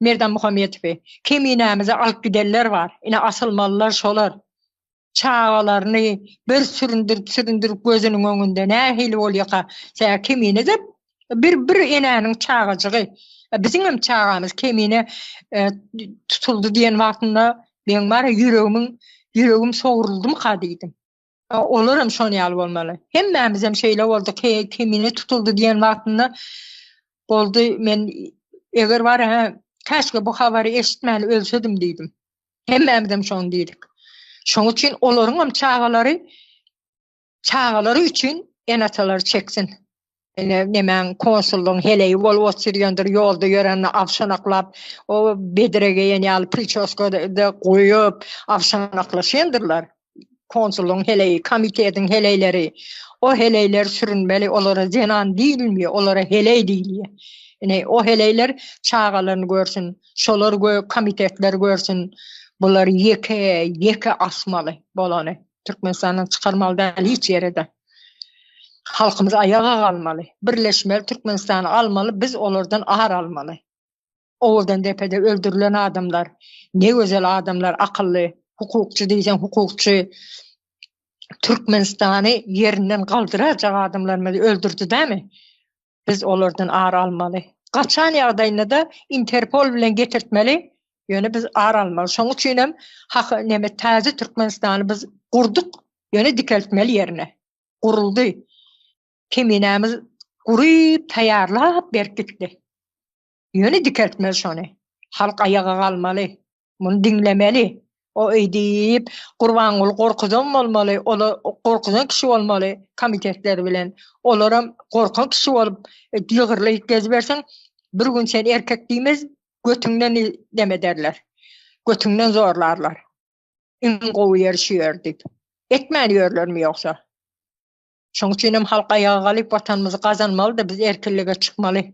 Merdan Muhammetowy Keminämize alyp gidenler bar. Ine asylmalylar şolar. Çagalaryny bir süründirip süründirip gözüniň öňünde nähili bolýaka tä Kemine de bir bir enäniň çagajygy biziňem çagamyz Kemine tutuldy diýen wagtynda meň bar ýa ýüregimiň ýüregim sogruldymyka diýdim. Olar hem şoň ýaly bolmaly. Hemmämiz hem şeýle bolduk. He, kemine tutuldy diýen wagtynda boldy. Men eger bar ha, käşke bu habary eşitmän ölsedim diýdim. Hemmämiz hem şoň diýdik. Şoň üçin olaryň hem çagalary çagalary üçin ene-atalar çeksin. Ine, nemäň konsullygyň heleýi bolup oturýandyr, ýolda ýörende awşanaklap, o bedre geýen ýaly pričoska-da goýup, awşanaklaşýandyrlar. Konsullygyň heleýi, komitetiň heleýleri. O heleýler sürünmeli, olara zenan diýilmýär, olara heleý diýilýär. Ine, o heleýler çagalaryny görsün, şolar komitetler görsün, bular ýeke, ýeke asmaly bolany. Türkmenistandan çykarmaly däl hiç ýere de. Halkymyz aýaga galmaly. Birleşmeli Türkmenistany almaly, biz olardan ar almaly. Owadan depede öldürilen adamlar, ne gözel adamlar, akylly, hukukçy diýseň hukukçy, Türkmenistany ýerinden galdyrajak adamlarymyzy öldürdi dämi? biz olardan ar almaly. Gaçan ýagdaýynda-da Interpol bilen getirtmeli, ýöne biz ar almaly. Şonuň üçin hem hak neme täze Türkmenistany biz gurduk, ýöne dikeltmeli ýerine. Guruldy. Keminämiz guryp taýýarlap berip gitdi. Ýöne dikeltmeli şony. Halk aýaga galmaly. Muny diňlemeli. O öýdüp, Gurbanguly gorkuzan bolmaly, ol gorkuzan kişi bolmaly komitetler bilen. Olaram gorkan kişi bolup ýygyrlyp gezibersin, bir gün sen erkek diýmez, götüňden neme ederler. Götüňden zorlarlar. Iň gowy ýeri şu ýer diýip. Etmän ýörlermi ýogsa? Şoň üçinem halk aýaga galyp, Watanymyzy gazanmaly-da, biz erkinlige çykmaly.